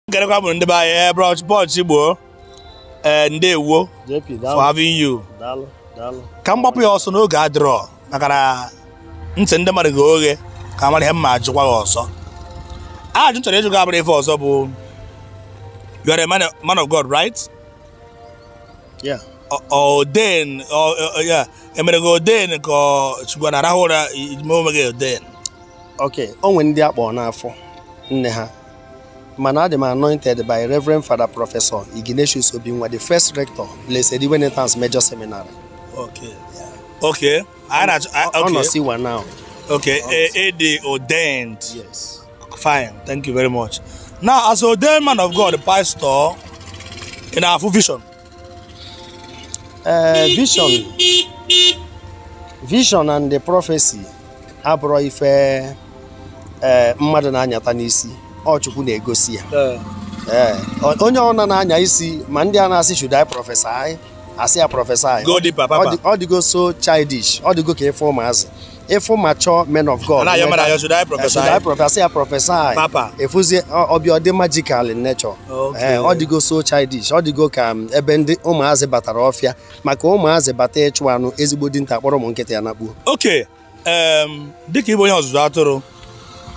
nkerekwa bụ ndị be anyị eh, Bro Ch- Bro Chigbo ee eh, ndewo for having you ka m gbapụ ya ọsọ na oge adịrọ maka na ntị ndị mmadụ ga oghe ka mara ihe m ma-ajụkwa gị ọsọ ajụ m chọrọ ịjụ gị abụrọ ife ọzọ bụ you are a man, man of God right? Yeah. ordain ya e mere gị ordain ka chukwu na-arahụ ụra ime onwe gị ordain. ok o nwere ndị akpọ n'afọ nne ha mana adị m anointed by Reverend Father Professor Ignatius Obinwa the first rector Blessed Iwenetans Major Seminary okay okay ọ nọ siwa now okay ịdị e ordained yes fine thank you very much now as ordained man of God pastor ị na-afụ vision ee vision vision and the prophecy abụrọ ife ee mmadụ na-anyata n'isi ọ Chukwu na-egosi ya Ee, ee o- onye ọ na na-anya isi ma ndị a na-asị should I prophesy asị ya prophesy go deeper, ọ papa. dị- ọ dịgo so childish ọ dịgo ka ife ụmụazị ị fụ mature men of God a na-ayọ mmadụ ayọ, should I prophesy? should I prophesy? prophesy Papa. ị fụzie ọ- ọ bịa ọ dị magical in nature Okay. Eh, ọ dịgo so childish ọ dịgo ka ebe ndị ụmụazị batara ọfịa maka ụmụazị bata ịchụ anụ ezigbo dinta akpọrọ ụmụ nkịta ya nakpuo okay um, dịka ị bụ onye ọzụzụ atụrụ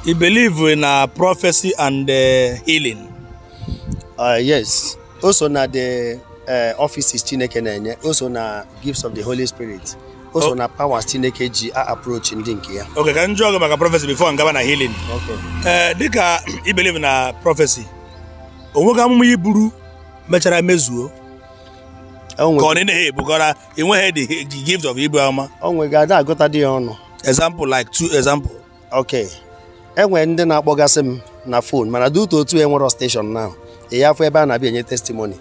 i believe na prophecy and eh, healing Uh, yes o so na the eh, offices chineke na-enye o so na gifts of the holy spirit o so na powers chineke ji a approach ndị nke ya okay ka m jụọ gị maka prophecy before m gaba na healing ee eh, dịka i believe na prophecy o nwega amụma i buru mechara mezuo ka ọ na-enye ebukọra enweghị the gift of ibu amụma o nwega ada agụta dị ya ọnụ example like two example ok e nwere ndị na-akpọgasị m na phone mana dị otu otu enwero steshọn na ị ya-afụ ebe a na-abịa enye testimony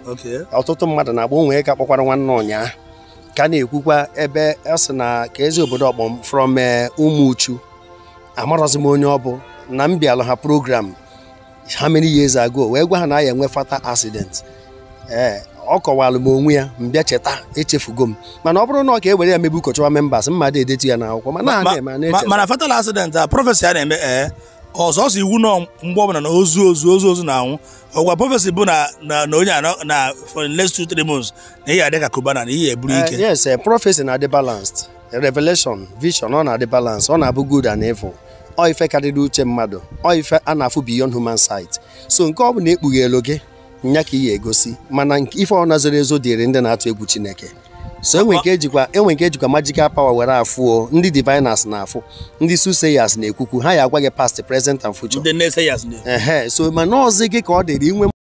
ọtụtụ mmadụ na-agba o nwe nke kpọkwara nwanne ụnyaa ka na-ekwukwa ebe ọ sị na ka ezi obodo ọ kpọ m from eh, Umuchu amarọzi m onye ọ bụ na m bịalụ ha program how many years ago wee gwa ha na a ya-enwe fatal accident ee ọ kọwalụ m onwe ya m bịa cheta echefugo m mana ọ bụrụ na ọ ka e were ya mebe ụka chọwa members mmadụ edetu ya n'akwụkwọ ma na na-eme a na-echeta mana fatal accident a prophecy a na-eme ee ọ sọsọ evil na mgbe ọbụla na ozu ozu ozu ozu na-anwụ ọgwa prophecy bụ na na na onye a nọ na for the next two three months na ị ya-adị ka Cubana na ihe eburu ike Eh, yes eh, prophecy na-adị balanced revelation vision ọ na-adị balance ọ na-abụ good and evil ọ ife karịrị uche mmadụ ọ ife a na-afụ beyond human sight so nke ọ bụna e kpughelu gị nya ka ị ya-egosi mana nke- ife ọna zoro ezo dịrị ndị na-atụ egwu chineke so enwe nke ejikwa enwe nke ejikwa magical power were afụ o ndị diviners na-afụ ndị soothsayers na-ekwukwu ha ya-agwa gị past present and future ndị naysayers na- ehe so mana ọzi gị ka ọ dịrị inwe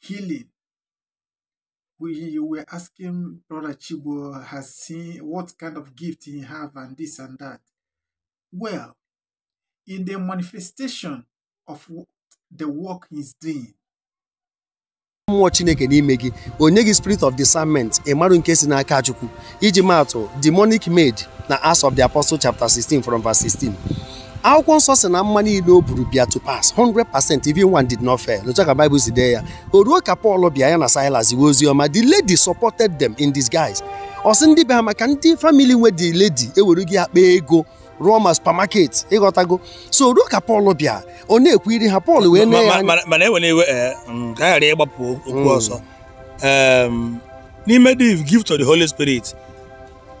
healing. We, you were asking Brother Chigbo as in what kind of gift he have and this and that. Well, in the manifestation of the work he's doing, mmụọ chineke n'ime gị o nye gị spirit of discernment ịmarụ nke si n'aka chukwu iji maatụ demonic maid na Acts of the Apostle chapter 16 from verse 16 akwụkwọ nsọ sị na amụma niile o buru bịa to pass 100% even one did not fail otu ka Bible si dee ya o ruo ka Paul bịa ya na Silas ziwe ozi ọma the lady supported them in disguise ọ sị ndị be ha maka ndị family nwe the lady ewere gị akpa ego rụọ ma supermarket ị ghọtago so o ruo ka Paul bịa ọ na-ekwu iri ha Paul wee mee ya anya mana enwere iwe ka a ghara ịgbapụ okwu ọzọ n'ime the gift of the holy spirit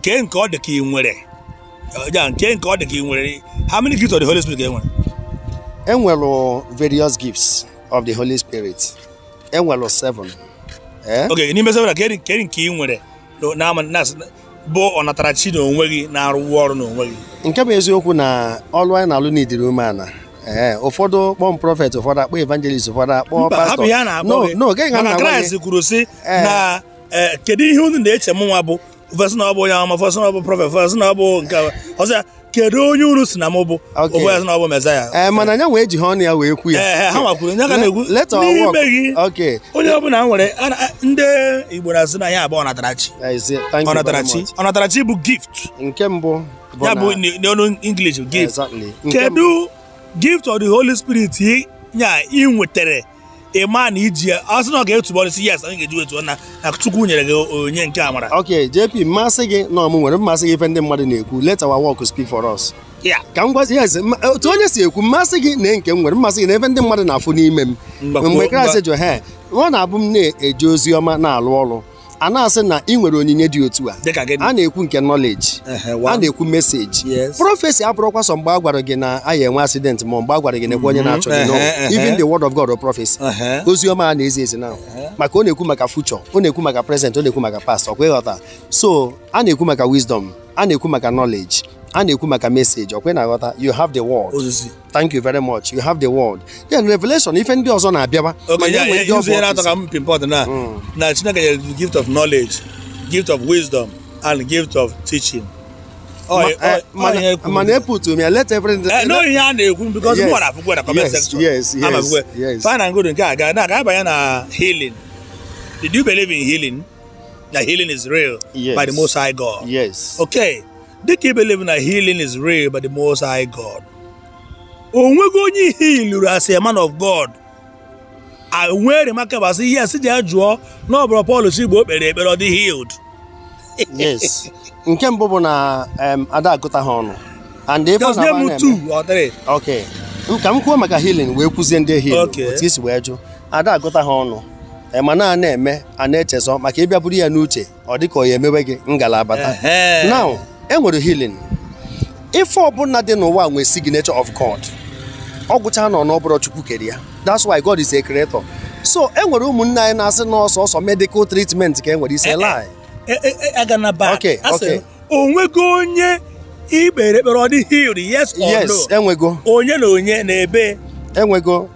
kee nke ọ dị ka ị nwere ya nke nke ọ dị ka ị nwere how many gifts of the holy spirit ka e nwere e nwere various gifts of the holy spirit e nwere seven eh? okay n'ime seven kee nke ị nwere na bụ ọnatarachi na onwe gị na-arụ ọrụ na onwe gị nke bụ eziokwu na ọlụ anyị na-alụ n'ịdịrị umeana ee ụfọdụ kpọ m prophet ụfọdụ akpọ evangelist ụfọdụ akpọ pastor n'oge ga na kraịst kwuru sị na e, kedu ihe unu na-eche mụnwa bụ fa sị na ọ bụ onye amụma fa sị na ọ bụ prophet fa sị na ọ bụ nke ọzọ kedu onye unu sị na m bụ Okay. o wee sị na ọ bụ mezaya ee mana ya nwa ejiho ọnụ ya wee kwu ya ee ha nwa kwuru onye ka na-ekwu Let our work. n'ime gị Okay. onye ọbụla nwere a- a- ndị igbo na-asị na ya bụ ọnatarachi I say thank you very ọnatarachi much. ọnatarachi bụ gift nke mbụ bụ ya na- bụ n- n'ọnụ english gift Exactly. Nke mbụ- kedu gift of the holy spirit ị- ya ị nwetara ị ma na i ji ya ọ sị na ọ ga-etubọ ọnụ sị yes anyị ga-eji wee tuo ọnụ na chukwu nyere gị onyinye amara ok jp m ma-asị gị na ọ mụ nwere m asị gị ife ndị mmadụ na-ekwu let our work speak for us yeah ka m gwazi yes ma- otu onye si ekwu m ma-asị gị na nke m nwere m asị gị na ife ndị mmadụ na-afụ n'ime m Mgbakwuo- mgbe mgba- kraịst jụ ha ọ na-abụ m na-eje ozi ọma na-alụ ọrụ a na-asị na ị nwere onyinye dị otu a dịka gịnị a na-ekwu nke knowledge Ehe, a one. na-ekwu message Yes. prophecy abụrọkwa sọ mgbe a gwara gị na a ya-enwe accident ma mgbe a gwara gị nekwa onye na-achọ gị no Ehe, ehe. even the word of God or prophecy Ehe. ozi ọma a na-ezi ezi na maka ọ na-ekwu maka future ọ na-ekwu maka present ọ na-ekwu maka past ọkwa ị ghọta so a na-ekwu maka wisdom a na-ekwu maka knowledge a na-ekwu maka message ọkwa ị na-aghọta you have the word ozizi thank you very much you have the word then revelation ife ndị ọzọ na-abịaba ma ya nwee ndị ọ bụ atọ ka m pinpoint na hmm. na chineke nyere the gift of knowledge gift of wisdom and gift of teaching eh, mana eput m ya let everything eh, no ihe a na-ekwu because m gwara akwụkwọ na comment section yes yes yes fine and good nke a ga na-aga abanye na healing did you believe in healing that healing is real yes. by the most high god yes okay dịka i believe na healing is real by the most high God o nwego onye ị healụrụ as a man of God nwere remarkable asị ihe asị ji ya jụọ na ọ bụ Bro Paul Chigbo o kpere ekpere ọ dị healed yes nke mbụ bụ na ada agụta ha ọnụ and ife na na-eme okay ka m kwuo maka healing wee kwuzie ndị heal otu i si wee jụ ada agụta ha ọnụ mana a na-eme a na-echezọ maka ịbịa buru ya n'uche ọ dị ka ọ ya emewe gị ngala abata Ehe. now e nwere healing ife ọbụla dị n'ụwa nwere signature of god ọ gwụcha nọ n'ọbụrụ chukwu kere ya that's why god is a creator so e nwere ụmụnne anyị na-asị na ọ sọọsọ medical treatment ka e nwere is a lie E- e- e- aga na back Okay, A sị, okay. onwego onye i kpere ekpere ọ dị healed yes or yes no enwego onye na onye n'ebee enwego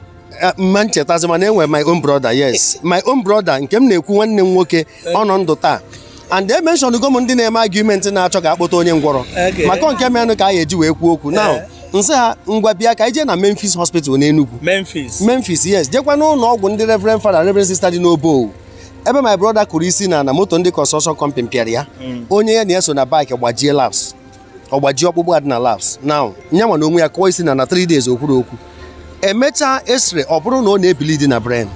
eh, m ma-echetazi mana enwe my own brother yes my own brother nke m na-ekwu nwanne m nwoke ọ nọ ndụ taa and e mentionụgo m ndị na-eme argument na-achọ ka akpọta onye ngwọrọ Okay. maka nke menụ ka a ga-eji wee kwuo okwu now Eh. nsị ha ngwa bịa ka anyị je na Memphis hospital n'Enugu Memphis. Memphis yes jekwa n'ụnọ ọgwụ ndị Reverend Father Reverend Sister dị n'Obowo ebe my brother kụrụ isi na na moto ndị construction company pịara ya onye ya na ya so na bike gbajie laps ọ gbaji ọkpụkpụ a dị na laps now nyanwa na onwe ya kụọ isi na na 3 days o kwurọ okwu e mechaa X-ray ọ bụrụ na ọ na-ebleed na brain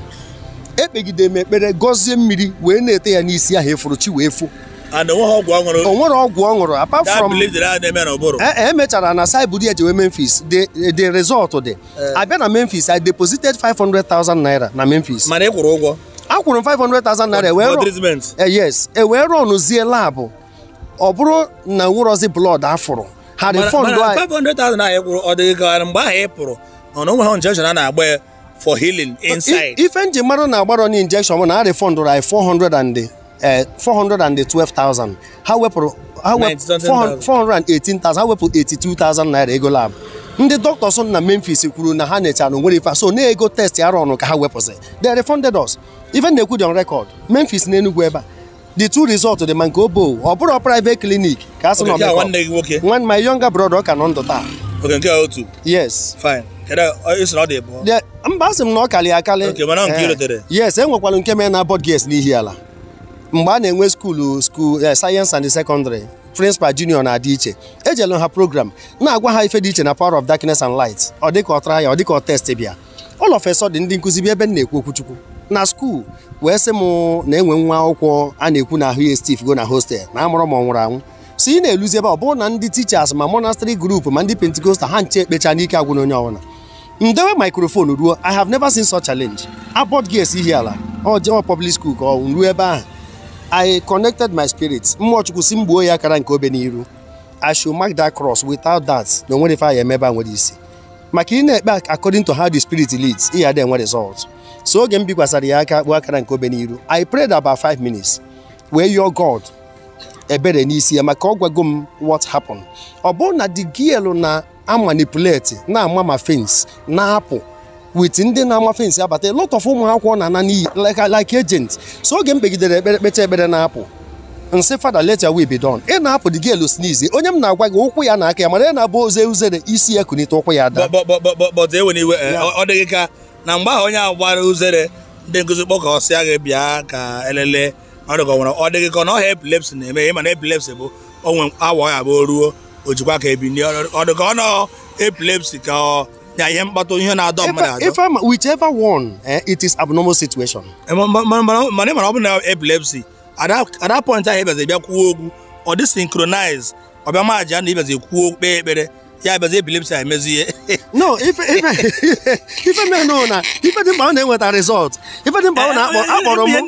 ekpegide m ekpere gọzie mmiri wee na-ete ya n'isi ahụ efuru chi wee fo and onweghị ọgwụ ọ ṅụrụ o nwerọ ọgwụ ọ ṅụrụ apart that from belief that a na-eme na ụbụrụ e e mechara na a sị buru ya jewe memphis the the result dị a bịa na memphis i deposited 500,000 naira na memphis mana ị kwụrụ ụgwọ akwụrụ m 500,000 naira wee for rụọ treatment Eh, yes e wee runzie lab ọ bụrụ na e nwerọzi blood a fụrụ ha refund anyị 500,000 anyị kwụrụ ọ dị ka mgbe ahụ ị pụrụ ọ na onweghị injection a na-agba ya for healing inside ife m ji mara na agbarọ ya injection bụ na a refundụrụ anyị 400 and 412,000 eh, ha wepụrụ 418,000 ha wepụ 82,000 naira ego lab ndị doctors na Memphis kwuru na ha nechara o nwerọ ife so na ego test a rụrụ ka ha wepụsị they refunded us ife m na-ekwu dị on record Memphis na Enugu ebe a the two result dị ma nke obo ọ bụrọ private clinic ka a sị na ọmịkọ nwanne gị nwoke nwanne my younger brother ọ ka nọ ndụ taa okay nke otu yes fine mba asị m na ọ kalị akalị eh, yes e nwekwara nke mere na Abbot Girls n'Ihiala mgbe a na-enwe skuulu skuul eh, senior secondary principal junior na-adị iche ejelu ha program na-agwa ha ife dị iche na power of darkness and light ọ dịka ọ tara ya ọ dịka ọ test bịa all of a sudden ndị nkụzi bịa ebe m na-ekwu okwu chukwu na skuul wee sị m na e nwe nwa akwụkwọ a na-ekwu na ahụ ya estiff go na hostel na amarọ ma ọ nwụrụ anwụ so ị na-eluzi ebe ọ bụrụ na ndị teachers ma monastery group ma ndị pentecostal ha ncha ekpecha n'ike agwụ na onye ọbụla m dewe microphone ruo i have never seen such challenge Abbot Girls Ihiala ọ public school ka ọ ruo ebe ahụ i connected my spirit mmụọ chukwu sị m gbuo ya akara nke obe n'iru i should mark that cross without that na o nwerọ ife anyị emebe nwere isi maka ị na-ekpe according to how the spirit leads ị ya-adị enwe result so oge m bikwasara ya aka gbuo akara nke obe n'iru I prayed about five minutes wee yọọ God ebere n'isi ya maka ọ gwago m what happened ọ bụrụ na the girl na-amanipulate na-ama ma fence na-apụ with ndị na-ama fence abata a lot of ụmụ akwụkwọ na-ana n'iyi like agent so oge m kpegidere ekpere kpecha ekpere na-apụ m sị Father let thy will be done ị na-apụ the girl sneeze onye m na-agwa gị ụkwụ ya na aka ya mana ị na-abụ o zee uzere isi ya kunite ụkwụ ya daa but enwere iwe eh, ọ dịghị ka na mgbe ahụ onye ahụ gbara uzere ndị nkụzi kpọkọsịa gị bịa ka elele ọ dịka nwere ọ dịghị ka ọ na ọrịa epilepsy na-eme ị ma na epilepsy bụ o nwee awa ya bụ ruo o jikwa aka ebini ọ dịka ọ nọ epilepsy ka ọ na ihe mkpata ihe na-adọ mmadụ adọ whichever one eh, it is abnormal situation eh, mana ị mara ọ bụ na epilepsy at that point ahụ ị bịazi bịa kwuo okwu ọ dị synchronize ọ bịa ma aja na ị bịazi kwuo kpee ekpere ya bịazi epilepsy emezi ihe no ife mee no na ife dị mkpa ọ na e nweta result ife dị mkpa ọ na-akpọ akpọrọ m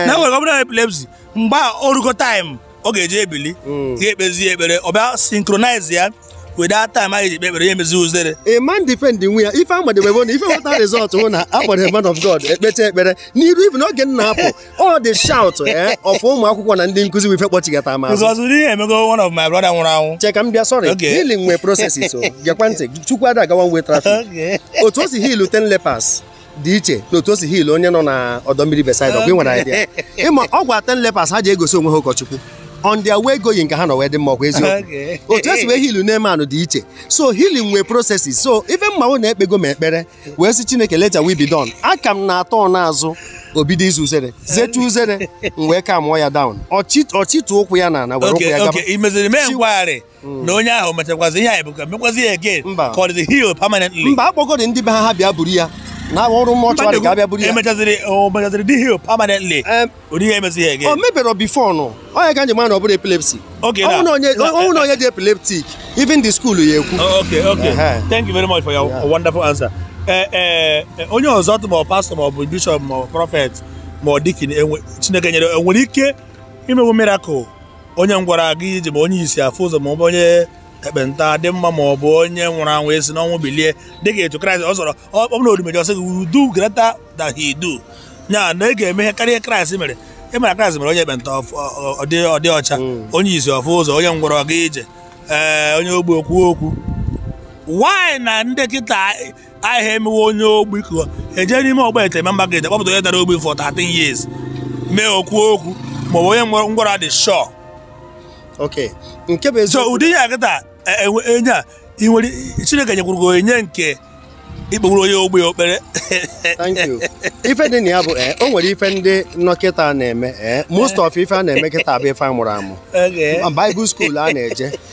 na nwere ọ bụla epilepsy mgbe o rugo time ọ ga-eji ebili hmm. ga-ekpezi ekpere ọ bịa synchronize ya with that time ị ji kpee ekpere ya emezi uzere a man defend nwe ya ife amadebe bụ na ife nweta result bụ na a kpọtara man of god ekpecha ekpere n'iru even oge m na-apụ all the shout eh, of ụmụ akwụkwọ na ndị nkụzi wụ ife kpọchigata m azụ because ihe emego one of my brother nwụrụ anwụ cheka m bịa sorry healing nwe processes so oh. gekwa ntị chukwu ada aga one way traffic otu o si heal ten lepers dị iche n'otu o si heal onye nọ na ọdọ mmiri Bethsaida ọkwa ị nwere idea ị ma ọ gwa ten lepers ha jee gosi onwe ha ụkọchukwu on their way going ka ha nọ wee dị mma ọkwa eziokwu Okay. otu e si wee heal Naaman nụ dị iche so healing nwee processes so ife m ma wụ na ekpego m ekpere wee sị chineke let thy will be done aka m na-atọ n'azụ o bido ize uzere zetu uzere m wee calmụọ ya down ọ chịtuo ụkwụ ya n'ana were ụkwụ Okay, ya gaba okay. Ị meziri mee nkwagharị. na onye ahụ mechakwazi ihe anyị bụ ka mekwazi ya again Mba. ka ọ dịzi heal permanently mba akpọgodi ndị be ha ha bịa buru ya na ọ bụ mortuary ka a bịa buru ya emechaziri o mechaziri dị heal permanently Em, ụdị ihe emezi ya o again o meberọ before nụ ọ nya ka m ji ma na ọ bụrọ epilepsy Okay, na- ọ wụ na onye na- ọ wụ na onye dị epileptic even the school ya-ekwu Oh, okay okay Ehe. thank you very much for your Yeah. wonderful answer Eh, eh, eh, onye ọzọ tụ ma ọ pastor ma ọ bụ bishop ma ọ prophet ma ọ deacon enwe- chineke nyere o nwere ike imewu miracle onye ngwọrọ aga ije ma onye isi afụ ụzọ ma ọ bụ onye ekpenta dị mma ma ọ bụ onye nwụrụ anwụ esi n'ọnwụ bilie dịka etu kraịst ọ sọrọ ọ bụ na odumeje ọsị gị udu greta da hidu nya na ị ga-eme ihe karịa kraịst mere ị mara kraịst mere onye ekpenta ọ dị ọcha hmm. onye isi ọ fụ ụzọ onye ngwọrọ ọ gaa ije ee onye ogbi o kwuo okwu why na ndị kịta aha emewu onye ogbi ka e je n'ime ogbete main market kpọpụta onye dara ogbi for 13 years mee o kwuo okwu maọbụ onye ngwọrọ dị sure okay nke bụ so ụdị ihe a kịta e, e, enye a ị nwere chineke nyekwuru gị onye nke ikpewuru onye ogbe okpere thank you ife dị na ya bụ eh, o nwere ife ndị nọ kịta na-eme eh, most of ife a na-eme kịta bụ ife a mụrụ amụ Bible school a na-eje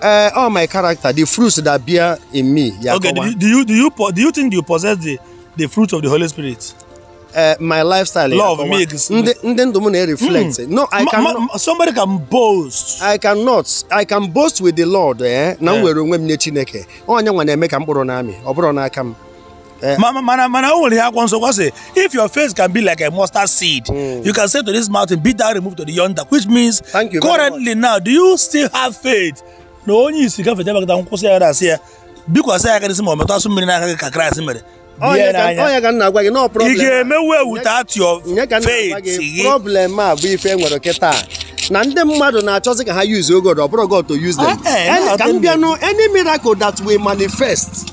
Uh, all my character, the fruits that bear in me ya-akọwa. Okay, do you, do you do you do you think you possess the the fruit of the Holy Spirit? Uh, my lifestyle. Love ya-akọwa. makes. Ụdị ndụ m na-reflect. Mm. No, I cannot. Somebody can boast. I cannot. I can boast with the Lord. Eh? Na m were onwe m nye Chineke. Ọ nyanwa na-eme ka mkpụrụ na-amị. Ọ bụrọ n'aka m. Eh. Mana mana mana o nwere ihe akwụkwọ nsọ gwa sị if your faith can be like a mustard seed mm. you can say to this mountain be thou removed to the yonder which means Thank you currently now do you still have faith na onye isi gafete eba kịta ị kwụsị ya na-asị ya bikwasị ya aka n'isi ma ọ metụ asụ mmiri n'aka gị ka Kraịst mere ọ nya ka m na-agwa gị na problem ị ga-emewu e with that your faith gị problem a bụ ife e nwere kịta na ndị mmadụ na-achọzi ka ha use God ọ bụrọ God to use them eh, eh, ka m bịanụ any miracle that will manifest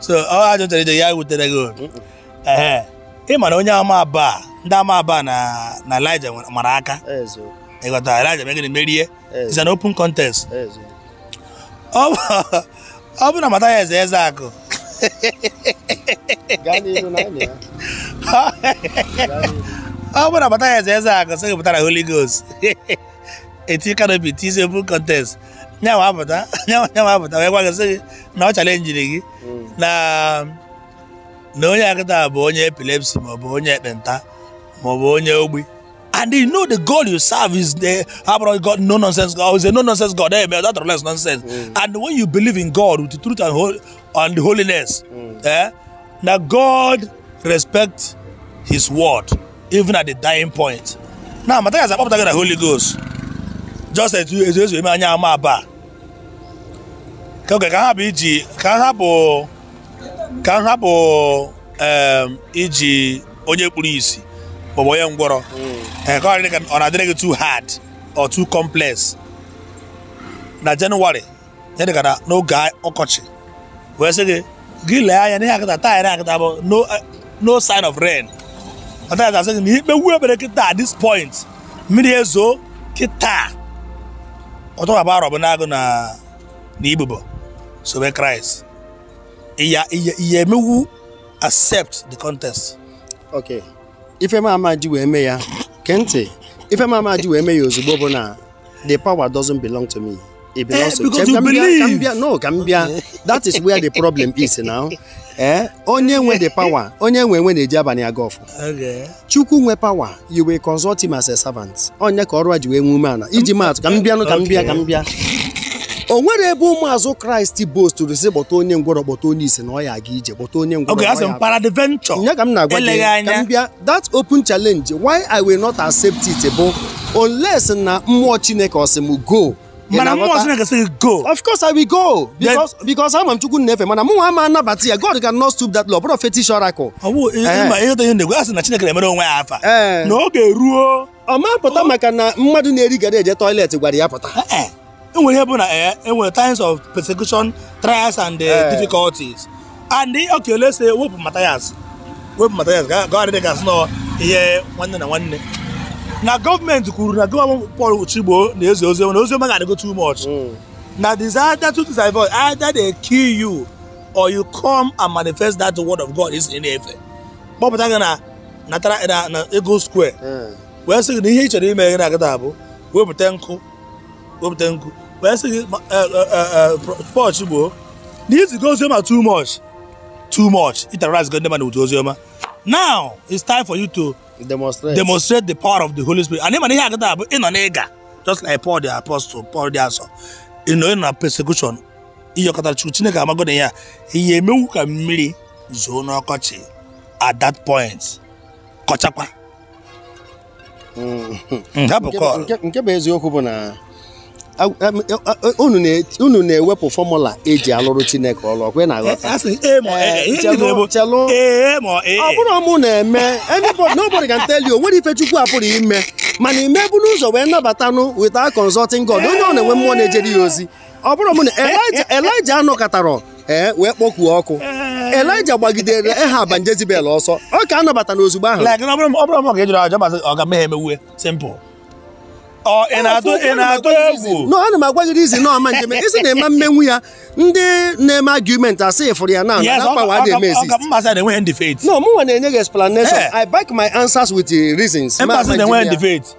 so ọ ajụtara ije ya wutere gị obi ee ị mara onye amụma Baal, ndị amụma Baal na na Elija nwere- mara aka eziokwu ị ghọta Elija megịrị merie it's an open contest eziokwu ọ bụ- ọ bụ na Mathias Ezeaku gaa n'ihu na anyị ya ọ bụ na Mathias Ezeaku sị gị pụtara Holy Ghost e tie canopy tizie open contest nyanwa apụta nyanwa apụta wee gwa gị sị gị na ọ chalenjiri gị na na onye a kịta bụ onye epilepsy maọbụ onye ekpenta maọbụ onye ogbi and you know the God you serve is the abroad God no nonsense God is a no nonsense God eh, that less nonsense mm. and when you believe in God with the truth and holi and holiness mm. eh? na god respect his word even at the dying point na mathias akpọpụta gị na holy ghost just etu ezu ezu eme onye amụma baal ka oge ka ha bụ iji ka ha bụ ka ha bụ iji onye kpuru isi maọbụ onye ngwọrọ hmm. eh, ọ na-adịrị gị too hard or too complex na January ya dịka na n'oge ọkọchị wee sị gị gị lee anya n'ihe akịta taa ya akịta bụ no no sign of rain ọta ya asị gị na i kpewuo ekpere kịta at this point mmiri ezo kịta ọ tọghaba arọbụnagụ na na ibubo sobe kraịst ị ya ị ya ị ya-emewu accept the contest okay ife m ama ji wee mee ya gee ntị ife m ama ji wee mee ya ozugbo bụ na the power doesn't belong to me. It belongs eh, to because you believe. Ka m bịa, no, ka m bịa. that is where the problem is now. Eh? Onye nwe the power. Onye enwe enwe na-eji abalị aga ọfụ. Okay. Chukwu nwe power. You will consult him as a servant. Onye ka ọrụ a ji wee nwe ume ala. Iji maatụ ka m bịanụ ka m bịa ka m bịa. o nwere ebe ụmụazụ kraịst boastụrụ sị kpọta onye ngwọrọ kpọta onye isi na ọ ya aga ije kpọta onye ngwọrọ. Okay, asị m peradventure. Nya ka m na-agwa gị ka m bịa that open challenge why i will not accept it bụ unless na mmụọ chineke ọ sị m go mana mmụọ chineke sị go of course i will go because because ama m chukwu m na-efe mana mụnwa ama anabata ya god can not stoop that low bụrụ fetish oracle ọ bụ ihe na-egwe asị na chineke na-emere onwe ya afa eh. na oge ruo ọ ma pụta maka na mmadụ na-eri garri eje toilet gwara ya pụta eh, eh. enwere ihe bụ na eh, enwere times of persecution trials and difficulties and okay let's say wepụ Matthias wepụ Matthias gawarị dị gasị nọ ihe nwanne na nwanne na gọọmenti kwuru na gọọmenti Paul Chigbo na-ezi ozi na ozi ọma gị adịgo too much hmm. na they say that two things are involved either they kill you or you come and manifest that word of God ị sị ị na-efe kpọpụta gị na natara na- na Eagle Square Eh, wee sị gị na ihe ị chọrọ ime gị na-agada abụ wepụta nkụ wepụta nkụ wee sị gị ma- eh, eh, eh, eh, pro- Paul Chigbo na i zigo oziọma too much too much i terrorizego ndị mmadụ with oziọma now it's time for you to demonstrate. demonstrate the power of the holy spirit and ị ma na ihe agada abụ ị nọ n'ịga just like paul the apostle paul dị asọ ị nọ ị nọ na persecution ị yọkata chukwu chineke amago na ya ya-emewu ka mmiri zoo n'ọkọchị at that point kọchakwa mm. Mm, nke bụ eziokwu bụ na unu na-ewepụ formula eji alụrụ chineke ọlụ ọ kwa ị na-aghọta ọ bụrụ mụ na-eme nobody can tell you o nwere ife chukwu apụrụ ime mana ị ma eburu ụzọ wee nabatanụ without consulting God onye ọ na-enwe mmụọ na-ejere ya ozi ọ bụrụ m na elija elija anọkatarọ ee wee kpọkuo ọkụ elija gbagidere ehab na jezibel ọsọ ọ ka anabata na ozugbo ahụ like na ọ bụrụ ọ bụrụ ma ọ ga-ejere aja masị ọ ga mee emewe simple ọ ị na-atụ ị na-atụ egwu no ana m agwa gị izi na ọma njem ị sị na ị ma emenwu ya ndị na-eme argument asị ị fụrụ ya na Yes, na ọ ga- power ọ adịghị ga- eme ọ exist ga- mba sị na i nweghị the faith no mụ nwa na-enye gị explanation Eh. i back my answers with the reasons mba sị na i nweghị the faith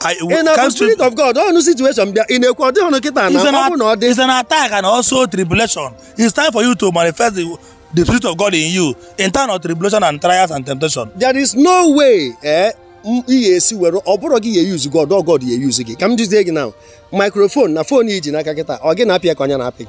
I- ị na-abụ can't you- spirit of god ọnụ situation bịa ị na-ekwu ọ dịghị ọnụ kịta na It's an ọ bụ na ọ at- dị it's an attack and also tribulation. It's time for you to manifest the, the spirit of God in you in time of tribulation and trials and temptation. there is no way eh m- ị ga-esi were ọ bụrọ gị ya use god ọ god ya use gị ka m jụzie gị na microphone na phone i ji n'aka kịta ọ gị na-apị ya ka ọ ya na-apị gị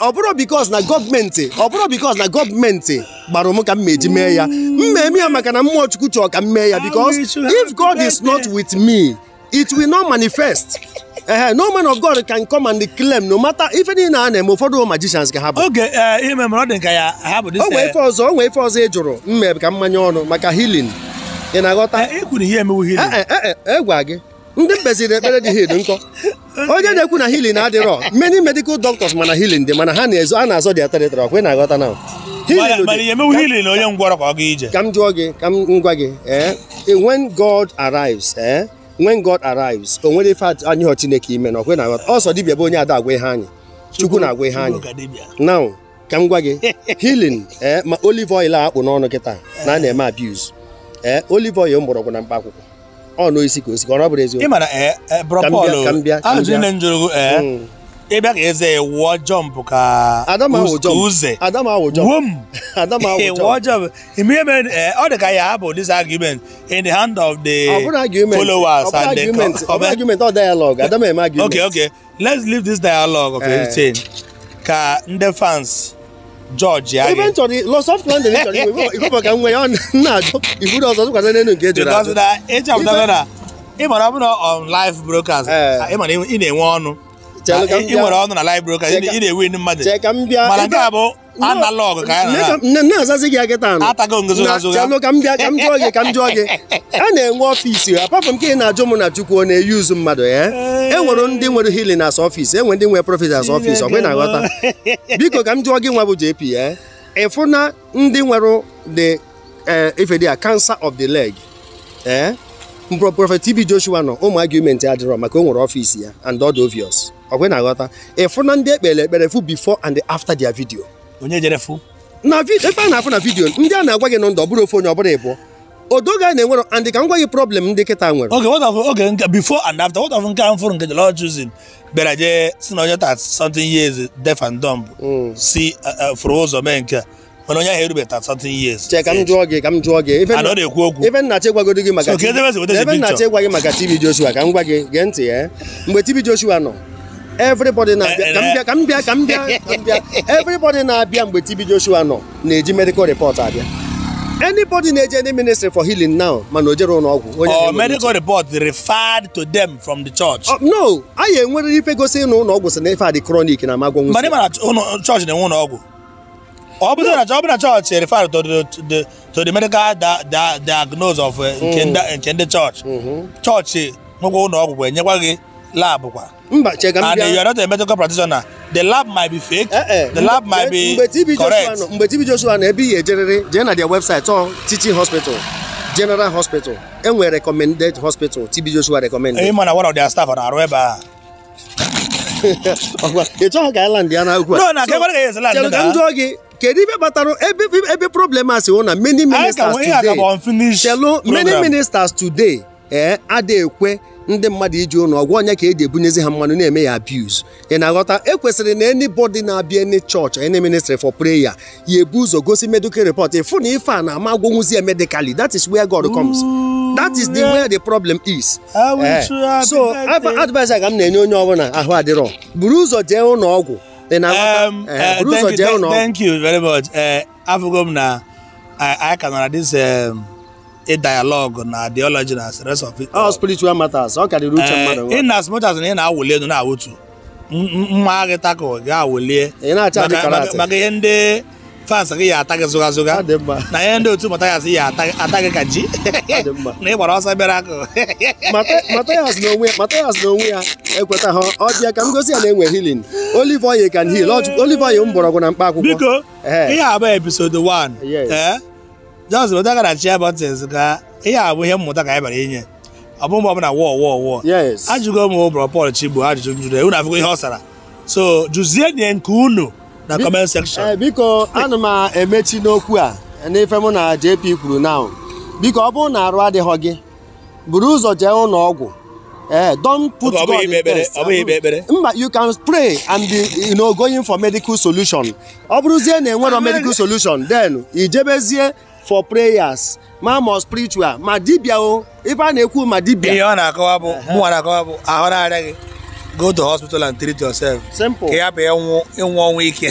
ọ bụrọ because na gọọmenti ọ bụrọ because na gọọmenti gbara m ka m ji mee ya m meme ya maka na mmụọ chukwu chọọ ka m mee ya because if God is not with me it will not manifest ee no man of God can come and claim no matter ife niile a na-eme ụfọdụ magicians ka ha bụ okay eh, ife mere ọ dị ka ya ha bụ o nwee eh, ife ọzọ o nwee ife ọzọ ị jụrụ m ka m manye ọnụ maka healing ị na-aghọta eh, e ihe emewu healing agwa gị ndị m meziri ekpere dị healed nkọ onye na-ekwu na healing adịrọ many medical doctors mana healing dị mana ha na-ezo a na-azọ their territory ọkwa ị na-aghọta now ka m jụọ gị ka m gwa gị eh, eh, when God arrives eh, when God arrives o nwere ife anyịghọ Chineke ime now ọkwa ị na-aghọta ọ sọ dibịa bụ onye ada agwa ihe anyị Chukwu na-agwa ihe anyị now ka m gwa gị healing ee ma olive oil a kpụ n'ọnụ kịta na a na-eme abuse ee olive oil mgbọrọgwụ na mkpa akwụkwọ ọ na isi ka osi ka ọ bụrụ eziokwu ị mara ee ee bro Ka m bịa, Paul ka m bịa, ka m ajụjụ bịa. niile m jụrụ gị, ee Mm. ị bịa ka i zee ya wụọ jump ka Ada m awụ uz- jump. ka uze Ada m awụ jump. wom Ada m awụ Ee, jump. wụọ jump ime ihe mere ee, ọ dị ka ya abụ this argument in the hand of the Ọ bụrọ argument. followers Ọ bụrọ and the argument. Ọ bụrọ argument, ọ dialogue. Ada m eme argument. okay okay let's leave this dialogue of eh. everything ka ndị fans judge ya ebe m chọrọ loss of land m chọrọ iwe ife ka nwe ya na-ajụ iburu ọzọ tụkwasị n'elu nke ejere ajụ ị chọpụtara na ị mara ọ bụ na on live broadcast eh. ị mara ị na-enwe ọnụ ị nwere ọnụ na live broadcast ị na-ewe ndị mmadụ mana nke a bụ analog ka anyị na- nne na-azazi gị kịta anụ atago ngozi na azụ chelụ ka m bịa ka m jụọ gị ka m jụọ gị a na-enwe ọfiisi apart from nke ị na-ajụ mụ na chukwu ọ na-enyezu mmadụ ya e nwere ndị nwere healing as ọfiisi e nwere ndị nwere prophet as ọfiisi ọ bụ ị na-aghọta biko ka m jụọ gị nwa bụ jp ya ị fụ na ndị nwere the eh, ife dị a cancer of the leg ee prophet tb joshua nọ ụmụ argument adịrọ maka o nwere ọfiisi ya and ọ dị obvious ọkwa ị na-aghọta ị fụ na ndị e kpere ekpere fụ before and after their video onye jere fụ na ebe a na-afụ na video ndị a na-agwa gị na ndụ ọ bụrọ ofu onye ọ bụrọ ịbụọ odoga a na-enwere and ka m gwa gị problem ndị kịta nwere okay what of okay nke before and after what of nke a m fụrụ nke the Lord's Chosen bịara jee si na onye thirty something years deaf and dumb si fụrụ ụzọ mee nke a mana onye ahụ erubeta 30 years Chere ka m jụọ gị ka m jụọ gị ife a na ọ na-ekwu okwu ife nna che gwagodi gị maka So, ka ebe esi weta ebe nna picture? che gwa gị maka TB Joshua ka m gwa gị gee ntị ya mgbe TB Joshua nọ everybody na-abịa Eh, ka m eh, bịa ka m bịa ka m bịa ka m bịa everybody na-abịa mgbe TB Joshua nọ na-eji medical report abịa anybody na-eje any ministry for healing now mana o jere ụlọ ọgwụ onye or na-eme medical report referred to them from the church Oh, no anyị enwerịrị ife gosi na ụlọ ọgwụ sị na ife a dị chronic na ama agwọ mana ị nwụsị mara ụlọ chọọchị na-enwe ụlọ ọgwụ ọ bụrụ na ọ bụrụ na chọọchị refer to the the- to the medical dia- dia- diagnose of eh, nke ndị- nke ndị chọọchị chọọchị nwekwa ụlọ ọgwụ wee nyekwa gị lab kwa mba chere ka m and you bịa are not a medical practitioner the lab might be fake Eh, eh. the lab might Mgbe- mgbe be TB Joshua correct nọ- mgbe TB Joshua na ebe ihe ejerịrị jee na their website ọ teaching hospital general hospital enwere recommended hospital TB Joshua recommended ị ma na one of their staff ọ na-arụ ebe a ọkwa ị chọghị ka island ya na ugwu a no na kekwara ka ya esi chere ka m jụọ gị kedu ife kpatara ebe ebe problem a si wụ na many ministers today chelu many ministers today ee eh, ada ekwe ndị mmadụ ije ụlọ ọgwụ ọ nya ka e ji ebunyezi ha mmanụ na-eme ya abuse ị na-aghọta ekwesịrị na anybody na-abịa any church any ministry for prayer ya ebu ụzọ gosi medical report ịfụ na ife a na-ama agwọnwụzi ya medically that is where God comes that is the where the problem is eh, so advice aga m na-enye onye ọbụla ahụ adịrọ buru ụzọ jee ụlọ ọgwụ um, eh, eh, buru ụzọ jee ụlọ ọgwụ thank you very much afụgo m na anyị ka nọ na this um, a dialogue na theology na the rest of it all spiritual matters ọ karịrị uche mmadụ in as much as na ị na-awụli elu na-awụtu mma gị tako gị awụlie ị na-acha dị maka- maka- karate maka ihe ndị fans gị ya ata gị zụga zụga ọ dị mma na ihe ndị otu Mathias ya ata ata gị ka ji ọ dị mma na ị gbara ọsọ bịara akụ Mata- Matthias na onwe ya Matthias na onwe ya ekwetaha ọ bịa ka m gosi ya na enwe healing olive oil can heal Ọ jụ- olive oil mgbọrọgwụ na mkpa akwụkwọ biko Ee. ihe a bụ episode 1 Yes. ee just metụ aka na share buttons ka ihe a bụ ihe mmụta ka anyị bịara inye ọ bụ mgbe ọbụla war war war yes ajụgo m Bro Paul Chigbo ajụjụ m jụrụ unu afụgo ihe ọ sara so jụzie nye nke unu na Bi- comment section Eh, biko ana m emechi n'okwu a n'ife mụ na JP kwuru now biko ọ bụrụ na arụ adịghị gị buru ụzọ jee ụlọ ọgwụ ee eh, don't put God in test mba you can pray and you know going for medical solution ọ bụrụzie na enwero medical solution then ị jebezie for prayers ma ma spiritual ma dibia o ife a na-ekwu ma dibia ihe ọ na-akọwa bụ mụnwa na-akọwa bụ ahụ na-arịa gị go to hospital and treat yourself simple ka ya bụ ịnwụ ịnwụ ọnwụ ike